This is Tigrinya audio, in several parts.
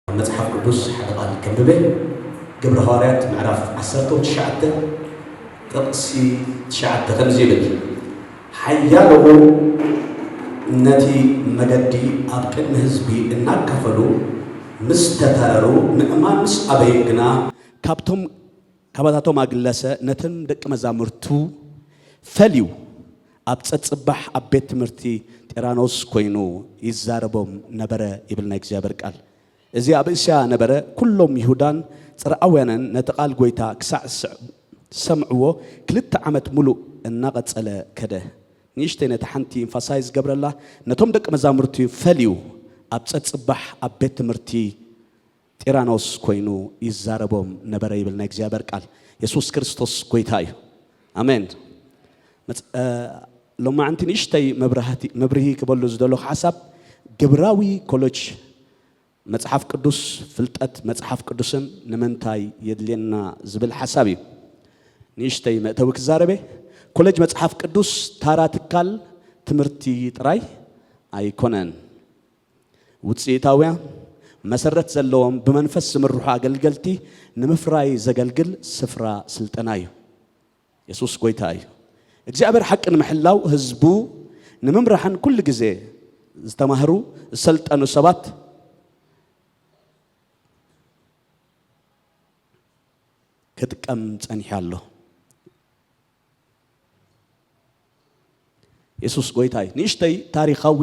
ኣብ መጽሓፍ ቅዱስ ሓደ ቓል ከንብበ ግብረ ሃዋርያት ምዕራፍ ዓሰርተው ትሽዓተ ጥቕሲ ትሽዓተ ከምዚ ይብል ሓያለዎ ነቲ መገዲ ኣብ ቅድሚ ህዝቢ እናካፈሉ ምስ ተተረሩ ምእማን ምስ ኣበዩ ግና ካብቶም ካባታቶም ኣግለሰ ነተን ደቂ መዛሙርቱ ፈልዩ ኣብ ጸጽባሕ ኣብ ቤት ትምህርቲ ጢራኖስ ኮይኑ ይዛረቦም ነበረ ይብል ናይ እግዚኣብሔር ቃል እዚ ኣብ እስያ ነበረ ኩሎም ይሁዳን ጽርኣውያንን ነቲ ቃል ጎይታ ክሳዕ ዝሰምዕዎ ክልተ ዓመት ሙሉእ እናቐጸለ ከደ ንእሽተይ ነቲ ሓንቲ ኢንፋሳይዝ ገብረላ ነቶም ደቂ መዛሙርቱ ፈልዩ ኣብ ጸጽባሕ ኣብ ቤት ትምህርቲ ጢራኖስ ኮይኑ ይዛረቦም ነበረ ይብል ናይ እግዚኣብሔር ቃል የሱስ ክርስቶስ ጎይታ እዩ ኣሜን ሎማዕንቲ ንእሽተይ መብርሂ ክበሉ ዝደለኹ ሓሳብ ግብራዊ ኮሎጅ መጽሓፍ ቅዱስ ፍልጠት መጽሓፍ ቅዱስን ንምንታይ የድልየና ዝብል ሓሳብ እዩ ንእሽተይ መእተዊ ክዛረበ ኮሌጅ መጽሓፍ ቅዱስ ታራ ትካል ትምህርቲ ጥራይ ኣይኮነን ውጽኢታውያ፣ መሰረት ዘለዎም ብመንፈስ ዝምርሑ ኣገልገልቲ ንምፍራይ ዘገልግል ስፍራ ስልጠና እዩ። የሱስ ጎይታ እዩ። እግዚኣብሔር ሓቂ ንምሕላው ህዝቡ ንምምራሕን ኩሉ ግዜ ዝተማህሩ ዝሰልጠኑ ሰባት ክጥቀም ጸኒሑ ኣሎ። የሱስ ጎይታ እዩ። ንእሽተይ ታሪኻዊ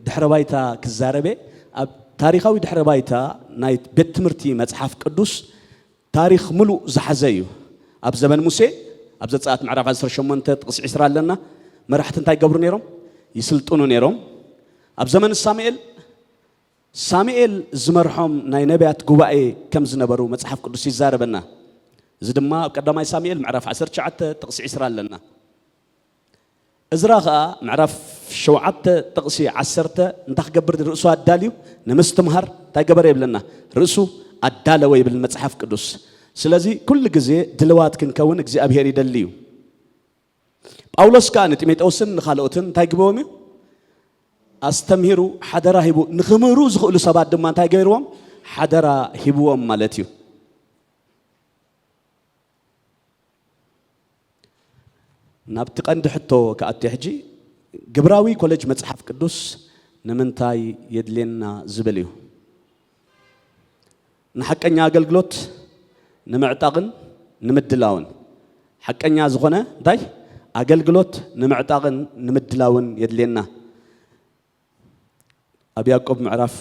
ድሕረ ባይታ ክዛረቤ ኣብ ታሪኻዊ ድሕረ ባይታ ናይ ቤት ትምህርቲ መጽሓፍ ቅዱስ ታሪኽ ምሉእ ዝሓዘ እዩ። ኣብ ዘበን ሙሴ ኣብ ዘጸኣት ምዕራፍ 18 ጥቕሲ 20 ኣለና። መራሕቲ እንታይ ይገብሩ ነይሮም? ይስልጥኑ ነይሮም። ኣብ ዘመን ሳሙኤል ሳሙኤል ዝመርሖም ናይ ነብያት ጉባኤ ከም ዝነበሩ መጽሓፍ ቅዱስ ይዛረበና። እዚ ድማ ኣብ ቀዳማይ ሳሙኤል ምዕራፍ ዓሰርተ ትሽዓተ ጥቕሲ ዕስራ ኣለና። እዝራ ኸኣ ምዕራፍ ሸውዓተ ጥቕሲ ዓሰርተ እንታይ ክገብር ንርእሱ ኣዳልዩ ንምስትምሃር እንታይ ገበረ ይብለና? ርእሱ ኣዳለወ ይብል መጽሓፍ ቅዱስ። ስለዚ ኩሉ ግዜ ድልዋት ክንከውን እግዚኣብሄር ይደሊ እዩ። ጳውሎስ ከኣ ንጢሞቴዎስን ንኻልኦትን እንታይ ግበዎም እዩ? ኣስተምሂሩ ሓደራ ሂቡ ንክምህሩ ዝኽእሉ ሰባት ድማ እንታይ ገይርዎም ሓደራ ሂብዎም ማለት እዩ ናብቲ ቀንዲ ሕቶ ክኣቱ ሕጂ ግብራዊ ኮሌጅ መፅሓፍ ቅዱስ ንምንታይ የድልየና ዝብል እዩ ንሓቀኛ ኣገልግሎት ንምዕጣቕን ንምድላውን ሓቀኛ ዝኾነ እንታይ ኣገልግሎት ንምዕጣቕን ንምድላውን የድልየና። ኣብ ያዕቆብ ምዕራፍ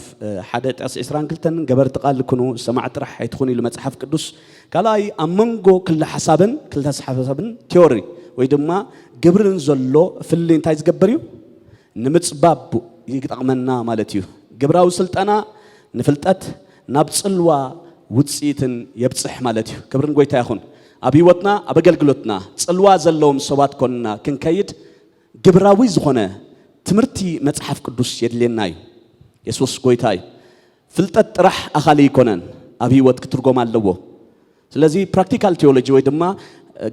ሓደ ጥቕሲ ዕስራን ክልተን ገበርቲ ቃል ኩኑ ሰማዕ ጥራሕ ኣይትኹኑ ኢሉ መጽሓፍ ቅዱስ። ካልኣይ ኣብ መንጎ ክልተ ሓሳብን ክልተ ሓሳብን ቲዮሪ ወይ ድማ ግብርን ዘሎ ፍልልይ እንታይ ዝገብር እዩ? ንምጽባብ ይጠቕመና ማለት እዩ። ግብራዊ ስልጠና ንፍልጠት ናብ ጽልዋ ውጽኢትን የብጽሕ ማለት እዩ። ክብሪ ንጎይታ ይኹን። ኣብ ህይወትና ኣብ ኣገልግሎትና ጽልዋ ዘለዎም ሰባት ኮንና ክንከይድ ግብራዊ ዝኾነ ትምህርቲ መጽሓፍ ቅዱስ የድልየና እዩ። የሱስ ጎይታ እዩ። ፍልጠት ጥራሕ ኣኻሊ ኣይኮነን ኣብ ሂወት ክትርጎም ኣለዎ ስለዚ ፕራክቲካል ቲዮሎጂ ወይ ድማ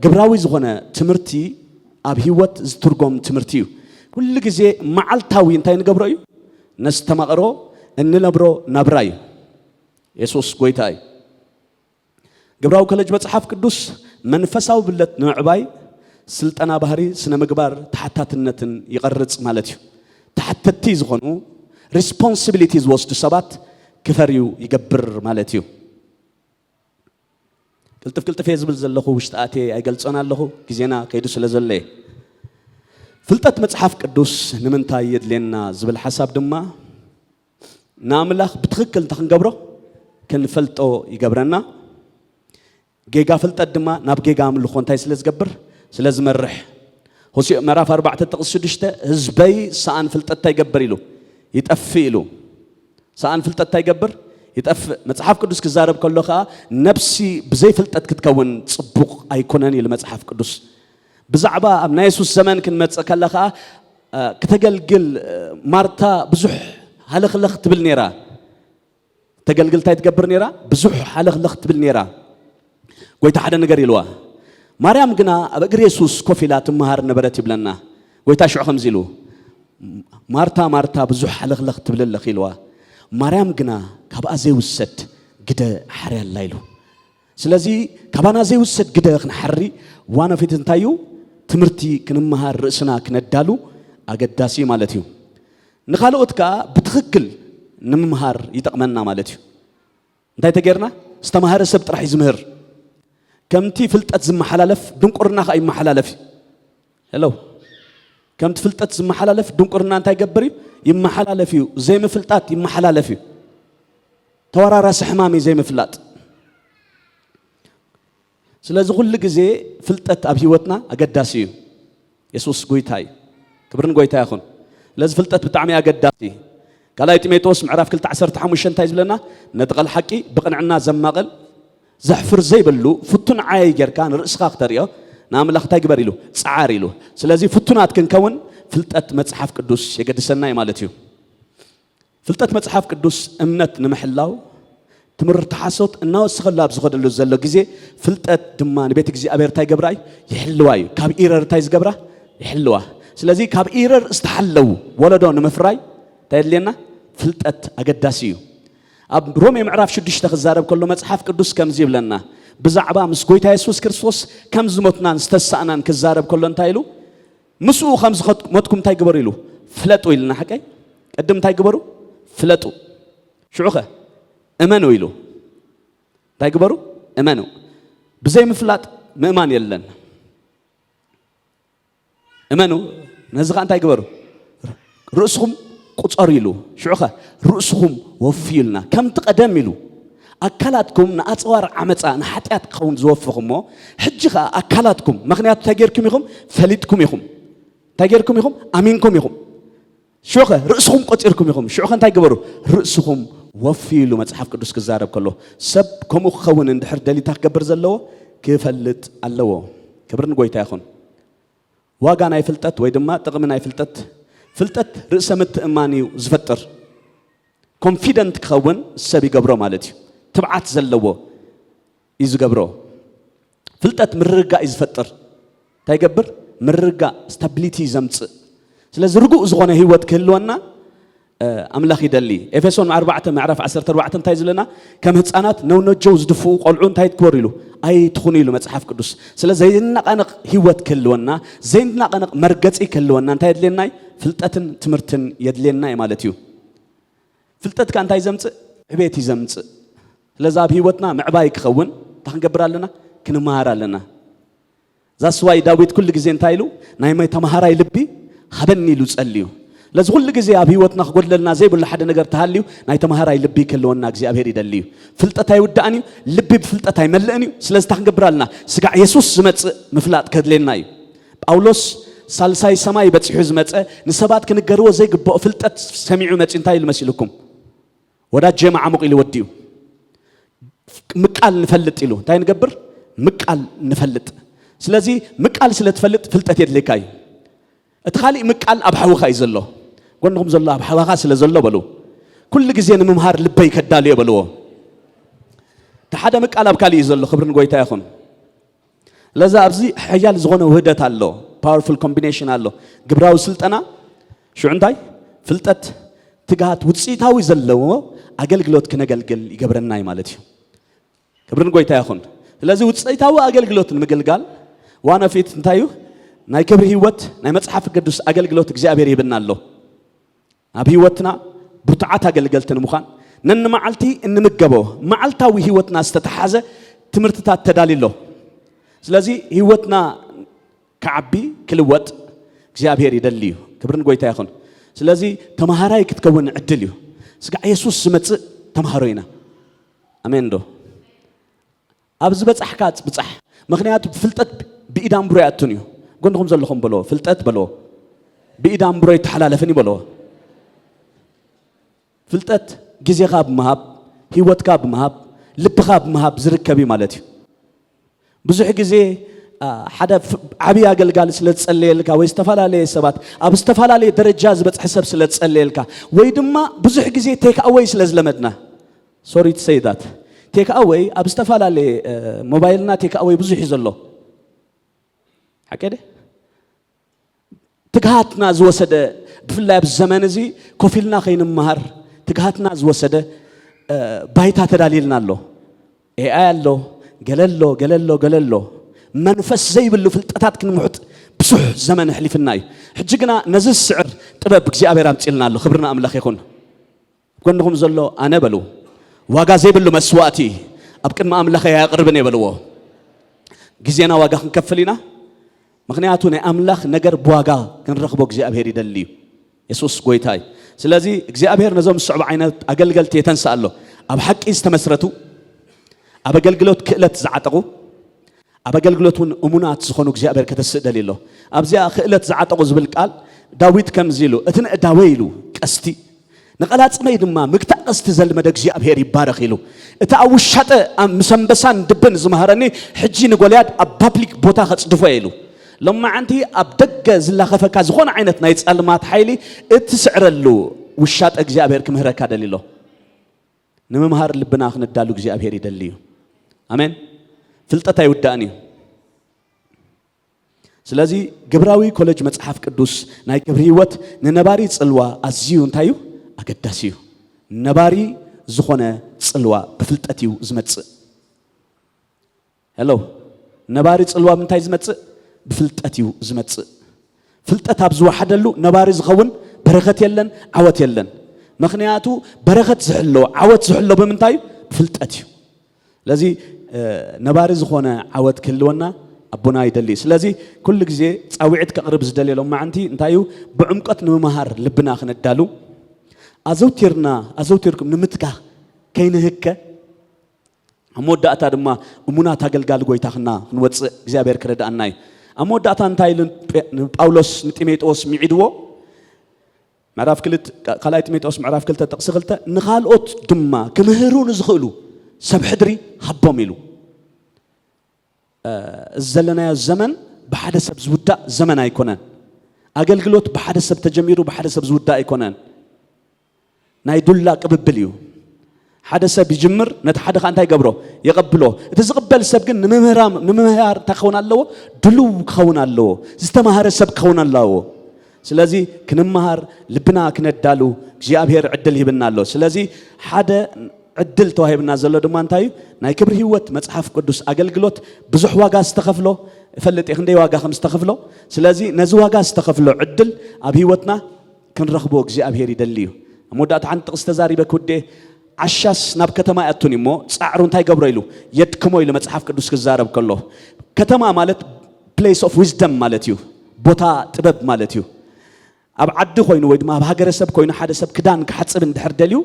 ግብራዊ ዝኾነ ትምህርቲ ኣብ ሂወት ዝትርጎም ትምህርቲ እዩ ኩሉ ግዜ መዓልታዊ እንታይ ንገብሮ እዩ ነስተማቕሮ እንነብሮ ናብራ እዩ የሱስ ጎይታ እዩ ግብራዊ ኮለጅ መጽሓፍ ቅዱስ መንፈሳዊ ብለት ንምዕባይ ስልጠና ባህሪ ስነ ምግባር ተሓታትነትን ይቐርጽ ማለት እዩ። ተሓተቲ ዝኾኑ ሪስፖንሲቢሊቲ ዝወስዱ ሰባት ክፈርዩ ይገብር ማለት እዩ። ቅልጥፍ ቅልጥፍ እየ ዝብል ዘለኹ ውሽጢ ኣትየ ኣይገልጾን ኣለኹ ግዜና ከይዱ ስለ ዘሎ እየ ፍልጠት መጽሓፍ ቅዱስ ንምንታይ የድልየና ዝብል ሓሳብ ድማ ንኣምላኽ ብትኽክል እንተ ክንገብሮ ክንፈልጦ ይገብረና። ጌጋ ፍልጠት ድማ ናብ ጌጋ ኣምልኾ እንታይ ስለ ዝገብር ስለ ዝመርሕ ሆሴዕ ምዕራፍ ኣርባዕተ ጥቕስ ሽዱሽተ ህዝበይ ሰኣን ፍልጠት እንታይ ይገብር ኢሉ ይጠፍእ ኢሉ ሰኣን ፍልጠት እንታይ ይገብር ይጠፍእ መጽሓፍ ቅዱስ ክዛረብ ከሎ ከዓ ነብሲ ብዘይ ፍልጠት ክትከውን ጽቡቕ ኣይኮነን ኢሉ መጽሓፍ ቅዱስ ብዛዕባ ኣብ ናይ የሱስ ዘመን ክንመጽእ ከለ ከዓ ክተገልግል ማርታ ብዙሕ ሃለኽለኽ ትብል ነይራ። ክተገልግል እንታይ ትገብር ነይራ? ብዙሕ ሃለኽለኽ ትብል ነይራ። ጎይታ ሓደ ነገር ኢልዋ። ማርያም ግና ኣብ እግሪ የሱስ ኮፍ ኢላ ትመሃር ነበረት ይብለና። ጎይታ ሽዑ ከምዚ ኢሉ ማርታ ማርታ ብዙሕ ሃለኽለኽ ትብል ኣለኺ ኢልዋ። ማርያም ግና ካብኣ ዘይውሰድ ግደ ሓርያ ኣላ ኢሉ። ስለዚ ካባና ዘይውሰድ ግደ ክንሓሪ ዋና ፊት እንታይ እዩ? ትምህርቲ ክንመሃር ርእስና ክነዳሉ ኣገዳሲ ማለት እዩ። ንካልኦት ከኣ ብትኽክል ንምምሃር ይጠቕመና ማለት እዩ። እንታይ ተገይርና? ዝተማህረ ሰብ ጥራሕ እዩ ዝምህር። ከምቲ ፍልጠት ዝመሓላለፍ ድንቁርና ከኣ ይመሓላለፍ እዩ። Hello ከምቲ ፍልጠት ዝመሓላለፍ ድንቁርና እንታይ ይገብር እዩ? ይመሓላለፍ እዩ። ዘይምፍልጣት ይመሓላለፍ እዩ። ተወራራሲ ሕማም እዩ ዘይምፍላጥ። ስለዚ ኩሉ ግዜ ፍልጠት ኣብ ህይወትና ኣገዳሲ እዩ። የሱስ ጎይታ እዩ። ክብሪ ንጎይታ ይኹን። ስለዚ ፍልጠት ብጣዕሚ ኣገዳሲ እዩ። ካልኣይ ጢሞቴዎስ ምዕራፍ 2 15 እንታይ ዝብለና ነቲ ቃል ሓቂ ብቕንዕና ዘማቕል ዘሕፍር ዘይብሉ ፍቱን ዓየይ ጌርካ ንርእስኻ ክተርእዮ ንኣምላኽ እንታይ ግበር ኢሉ? ጽዓር ኢሉ። ስለዚ ፍቱናት ክንከውን ፍልጠት መጽሓፍ ቅዱስ የገድሰና እዩ ማለት እዩ። ፍልጠት መጽሓፍ ቅዱስ እምነት ንምሕላው ትምህርቲ ሓሶት እናወሰኸሉ ኣብ ዝኸደሉ ዘሎ ግዜ ፍልጠት ድማ ንቤት እግዚኣብሔር እንታይ ገብራ እዩ ይሕልዋ እዩ ካብ ኢረር እንታይ ዝገብራ ይሕልዋ ስለዚ ካብ ኢረር ዝተሓለው ወለዶ ንምፍራይ እንታይ የድልየና ፍልጠት ኣገዳሲ እዩ ኣብ ሮሜ ምዕራፍ ሽዱሽተ ክዛረብ ከሎ መጽሓፍ ቅዱስ ከምዚ ይብለና ብዛዕባ ምስ ጎይታ የሱስ ክርስቶስ ከም ዝሞትናን ዝተሳእናን ክዛረብ ከሎ እንታይ ኢሉ ምስኡ ከም ዝሞትኩም እንታይ ግበሩ ኢሉ ፍለጡ ኢልና ሓቀይ ቅድም እንታይ ግበሩ ፍለጡ ሽዑ ኸ እመኑ ኢሉ እንታይ ግበሩ እመኑ ብዘይ ምፍላጥ ምእማን የለን እመኑ ነዚ ከ እንታይ ግበሩ ርእስኹም ቁፀሩ ኢሉ ሽዑ ኸ ርእስኹም ወፍዩ ኢልና ከምቲ ቀደም ኢሉ ኣካላትኩም ንኣፅዋር ዓመፃ ንሓጢኣት ክኸውን ዝወፍኹሞ ሕጂ ከዓ ኣካላትኩም ምክንያቱ እንታይ ጌርኩም ኢኹም ፈሊጥኩም ኢኹም እንታይ ጌርኩም ኢኹም ኣሚንኩም ኢኹም ሽዑኸ ርእስኹም ቆጺርኩም ኢኹም። ሽዑኸ እንታይ ግበሩ? ርእስኹም ወፍዩ ኢሉ መጽሓፍ ቅዱስ ክዛረብ ከሎ፣ ሰብ ከምኡ ክኸውን እንድሕር ደልዩ እንታይ ክገብር ዘለዎ? ክፈልጥ ኣለዎ። ክብሪ ንጎይታ ይኹን። ዋጋ ናይ ፍልጠት ወይ ድማ ጥቕሚ ናይ ፍልጠት ፍልጠት ርእሰ ምትእማን እዩ ዝፈጥር። ኮንፊደንት ክኸውን ሰብ ይገብሮ ማለት እዩ። ትብዓት ዘለዎ እዩ ዝገብሮ። ፍልጠት ምርግጋእ እዩ ዝፈጥር። እንታይ ይገብር? ምርግጋእ ስታቢሊቲ እዩ ዘምጽእ። ስለዚ ርጉእ ዝኾነ ህይወት ክህልወና ኣምላኽ ይደሊ። ኤፌሶን 4 ምዕራፍ 14 እንታይ ዝለና ከም ህፃናት ነውነጀው ዝድፍኡ ቆልዑ እንታይ ትግበሩ ኢሉ ኣይትኹኑ ኢሉ መጽሓፍ ቅዱስ። ስለ ዘይናቐነቕ ህይወት ክህልወና ዘይናቐነቕ መርገጺ ክህልወና እንታይ የድልየና እዩ? ፍልጠትን ትምህርትን የድልየና እዩ ማለት እዩ። ፍልጠትካ እንታይ ዘምጽእ? ዕቤት እዩ ዘምጽእ። ስለዚ ኣብ ህይወትና ምዕባይ ክኸውን እንታይ ክንገብር ኣለና? ክንመሃር ኣለና። ዛስ ዋይ ዳዊት ኩሉ ግዜ እንታይ ኢሉ ናይ ማይ ተማሃራይ ልቢ ሃበኒ ኢሉ ጸልዩ። ስለዚ ኩሉ ግዜ ኣብ ህይወትና ክጎድለልና ዘይብሉ ሓደ ነገር ተሃልዩ ናይ ተማሃራይ ልቢ ክህልወና እግዚኣብሄር ይደሊ እዩ። ፍልጠት ኣይውዳእን እዩ፣ ልቢ ብፍልጠት ኣይመልእን እዩ። ስለዚ እንታይ ክንገብር ኣለና? ስጋዕ የሱስ ዝመጽእ ምፍላጥ ከድልየና እዩ። ጳውሎስ ሳልሳይ ሰማይ በጺሑ ዝመጸ ንሰባት ክንገርዎ ዘይግብኦ ፍልጠት ሰሚዑ መጺኡ እንታይ ኢሉ መሲልኩም? ወዳጀ መዓሙቕ ኢሉ ወዲኡ ምቃል ንፈልጥ ኢሉ እንታይ ንገብር ምቃል ንፈልጥ ስለዚ ምቃል ስለ ትፈልጥ ፍልጠት የድልየካ እዩ እቲ ካሊእ ምቃል ኣብ ሓውኻ እዩ ዘሎ ጎንኹም ዘሎ ኣብ ሓዋኻ ስለ ዘሎ በሉ ኩሉ ግዜ ንምምሃር ልበይ ከዳልዮ በልዎ እቲ ሓደ ምቃል ኣብ ካሊእ እዩ ዘሎ ክብሪ ንጎይታ ይኹን ለዛ ኣብዚ ሐያል ዝኾነ ውህደት ኣሎ፣ powerful combination ኣሎ፣ ግብራዊ ስልጠና፣ ሽዑ እንታይ? ፍልጠት፣ ትግሃት፣ ውፅኢታዊ ዘለዎ ኣገልግሎት ክነገልግል ይገብረና እዩ ማለት እዩ። ክብርን ጎይታ ይኹን። ስለዚ ውፅኢታዊ ኣገልግሎት ንምግልጋል ዋና ፊት እንታይ እዩ? ናይ ክብሪ ህይወት ናይ መፅሓፍ ቅዱስ ኣገልግሎት እግዚኣብሔር ይብና ኣሎ። ኣብ ህይወትና ብርቱዓት ኣገልገልቲ ንምዃን ነንመዓልቲ እንምገቦ መዓልታዊ ህይወትና ዝተተሓዘ ትምህርትታት ተዳልዩ ኣሎ። ስለዚ ህይወትና ክዓቢ ክልወጥ እግዚኣብሔር ይደሊ እዩ። ክብሪ ንጎይታ ይኹን። ስለዚ ተምሃራይ ክትከውን ዕድል እዩ። ስጋዕ የሱስ ዝመጽእ ተምሃሮ ኢና። ኣሜን ዶ? ኣብ ዝበጻሕካ ብጻሕ ምኽንያቱ ፍልጠት ብኢድ ኣምብሮ ኣይኣቱን እዩ ጎንኹም ዘለኹም በልዎ ፍልጠት በልዎ ብኢድ ኣምብሮ ኣይተሓላለፍን እዩ በልዎ ፍልጠት ግዜኻ ብምሃብ ሂወትካ ብምሃብ ልብኻ ብምሃብ ዝርከብ እዩ ማለት እዩ ብዙሕ ግዜ ሓደ ዓብዪ ኣገልጋሊ ስለ ዝጸለየልካ ወይ ዝተፈላለየ ሰባት ኣብ ዝተፈላለየ ደረጃ ዝበጽሐ ሰብ ስለ ዝጸለየልካ ወይ ድማ ብዙሕ ግዜ ቴክኣወይ ስለ ዝለመድና ሶሪ ቱ ሰይ ዛት ቴክኣወይ ኣብ ዝተፋላለየ ሞባይልና ቴክኣወይ ብዙሕ እዩ ዘሎ ሓቀይ ድየ ትግሃትና ዝወሰደ ብፍላይ ኣብ ዘመን እዚ ኮፍ ኢልና ከይንምሃር ትግሃትና ዝወሰደ ባይታ ተዳልየልና ኣሎ ኤኣይ ኣሎ ገለ ኣሎ ገለ ኣሎ ገለ ኣሎ መንፈስ ዘይብሉ ፍልጠታት ክንምሑጥ ብዙሕ ዘመን ኣሕሊፍና እዩ ሕጂ ግና ነዚ ዝስዕር ጥበብ እግዚኣብሔር ኣምፅልና ኣሎ ክብርና ኣምላኽ ይኹን ኣብ ጎንኹም ዘሎ ኣነ በሉ ዋጋ ዘይብሉ መስዋእቲ ኣብ ቅድሚ ኣምላኸይ ኣየቕርብን እየ በልዎ። ግዜና ዋጋ ክንከፍል ኢና። ምክንያቱ ናይ ኣምላኽ ነገር ብዋጋ ክንረኽቦ እግዚኣብሄር ይደሊ እዩ። የሱስ ጎይታ እዩ። ስለዚ እግዚኣብሄር ነዞም ዝስዕቡ ዓይነት ኣገልገልቲ የተንስእ ኣሎ። ኣብ ሓቂ ዝተመስረቱ፣ ኣብ ኣገልግሎት ክእለት ዝዓጠቑ፣ ኣብ ኣገልግሎት እውን እሙናት ዝኾኑ እግዚኣብሔር ከተስእ ደልዩ ኣሎ። ኣብዚኣ ክእለት ዝዓጠቑ ዝብል ቃል ዳዊት ከምዚ ኢሉ እቲ ነእዳወይ ኢሉ ቀስቲ ንቐላጽመይ ድማ ምግታእ ቀስቲ ዘልመደ እግዚኣብሔር ይባረኽ ኢሉ እቲ ኣብ ውሻጠ ምስ ኣንበሳን ድብን ዝመሃረኒ ሕጂ ንጎልያድ ኣብ ፓብሊክ ቦታ ከጽድፎ እየ ኢሉ ሎማዓንቲ ኣብ ደገ ዝላኸፈካ ዝኾነ ዓይነት ናይ ጸልማት ሓይሊ እትስዕረሉ ውሻጠ እግዚኣብሔር ክምህረካ ደልዩ ኣሎ። ንምምሃር ልብና ክነዳሉ እግዚኣብሔር ይደሊ እዩ ኣሜን ፍልጠት ኣይውዳእን እዩ ስለዚ ግብራዊ ኮለጅ መጽሓፍ ቅዱስ ናይ ክብሪ ህይወት ንነባሪ ጽልዋ ኣዝዩ እንታይ እዩ ኣገዳሲ እዩ ነባሪ ዝኾነ ጽልዋ ብፍልጠት እዩ ዝመጽእ ሄሎ ነባሪ ጽልዋ ምንታይ ዝመጽእ ብፍልጠት እዩ ዝመጽእ ፍልጠት ኣብ ዝወሓደሉ ነባሪ ዝኸውን በረኸት የለን ዓወት የለን ምክንያቱ በረኸት ዝሕሎ ዓወት ዝሕሎ ብምንታይ እዩ ብፍልጠት እዩ ስለዚ ነባሪ ዝኾነ ዓወት ክህልወና ኣቦና ይደሊ ስለዚ ኩሉ ግዜ ፃውዒት ከቕርብ ዝደልየሎም ማዓንቲ እንታይ እዩ ብዕምቀት ንምምሃር ልብና ክነዳሉ ኣዘውቲርና ኣዘውቲርኩም ንምትካኽ ከይንህከ ኣብ መወዳእታ ድማ እሙናት ኣገልጋሊ ጎይታ ክና ክንወጽእ እግዚኣብሔር ክረድኣና እዩ። ኣብ መወዳእታ እንታይ ኢሉ ጳውሎስ ንጢሜጥዎስ ሚዒድዎ? ምዕራፍ ክልት ካልኣይ ጢሜጥዎስ ምዕራፍ ክልተ ጥቕሲ ክልተ ንኻልኦት ድማ ክምህሩ ንዝኽእሉ ሰብ ሕድሪ ሃቦም ኢሉ። እዚ ዘለናዮ ዘመን ብሓደ ሰብ ዝውዳእ ዘመን ኣይኮነን። ኣገልግሎት ብሓደ ሰብ ተጀሚሩ ብሓደ ሰብ ዝውዳእ ኣይኮነን። ናይ ዱላ ቅብብል እዩ። ሓደ ሰብ ይጅምር፣ ነቲ ሓደ ከኣ እንታይ ይገብሮ? የቐብሎ። እቲ ዝቕበል ሰብ ግን ንምምህራም ንምምሃር እንታይ ክኸውን ኣለዎ? ድሉው ክኸውን ኣለዎ። ዝተማህረ ሰብ ክኸውን ኣለዎ። ስለዚ ክንምሃር ልብና ክነዳሉ እግዚኣብሔር ዕድል ሂብና ኣሎ። ስለዚ ሓደ ዕድል ተዋሂብና ዘሎ ድማ እንታይ እዩ? ናይ ክብሪ ህይወት መጽሓፍ ቅዱስ ኣገልግሎት ብዙሕ ዋጋ ዝተኸፍሎ እፈልጥ እየ ክንደይ ዋጋ ከም ዝተኸፍሎ። ስለዚ ነዚ ዋጋ ዝተኸፍሎ ዕድል ኣብ ህይወትና ክንረኽቦ እግዚኣብሄር ይደሊ እዩ። ኣብ መወዳእታ ሓንቲ ጥቕሲ ተዛሪበ ክውድኤ፣ ዓሻስ ናብ ከተማ ኣይኣቱን እዩ እሞ ጻዕሩ እንታይ ይገብሮ ኢሉ የድክሞ ኢሉ መጽሓፍ ቅዱስ ክዛረብ ከሎ፣ ከተማ ማለት ፕሌስ ኦፍ ዊዝደም ማለት እዩ፣ ቦታ ጥበብ ማለት እዩ። ኣብ ዓዲ ኮይኑ ወይ ድማ ኣብ ሃገረሰብ ኮይኑ ሓደ ሰብ ክዳን ክሓጽብ እንድሕር ደልዩ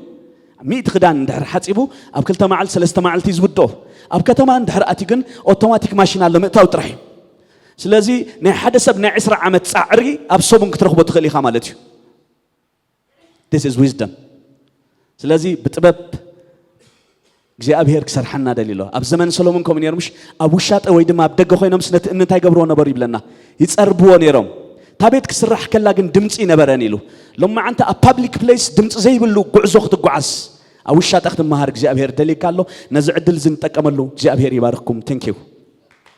ሚእቲ ክዳን እንድሕር ሓጺቡ ኣብ ክልተ መዓልቲ ሰለስተ መዓልቲ እዩ ዝውድኦ። ኣብ ከተማ እንድሕር ኣትዩ ግን ኦቶማቲክ ማሽን ኣሎ ምእታው ጥራሕ እዩ። ስለዚ ናይ ሓደ ሰብ ናይ ዕስራ ዓመት ጻዕሪ ኣብ ሰሙን ክትረኽቦ ትኽእል ኢኻ ማለት እዩ። ዲስ ኢዝ ዊዝደም። ስለዚ ብጥበብ እግዚኣብሄር ክሰርሓና ደልዩ ኣሎ ኣብ ዘመን ሰሎሞን ከምኡ ነይሩ ምሽ ኣብ ውሻጠ ወይ ድማ ኣብ ደገ ኮይኖምስ ነቲ እምኒ እንታይ ገብርዎ ነበሩ ይብለና ይፀርብዎ ነይሮም እታ ቤት ክስራሕ ከላ ግን ድምፂ ነበረን ኢሉ ሎም መዓንቲ ኣብ ፓብሊክ ፕሌስ ድምፂ ዘይብሉ ጉዕዞ ክትጓዓዝ ኣብ ውሻጠ ክትመሃር እግዚኣብሄር ደልዩካ ኣሎ ነዚ ዕድል እዚ ንጠቀመሉ እግዚኣብሄር ይባርክኩም ተንኪው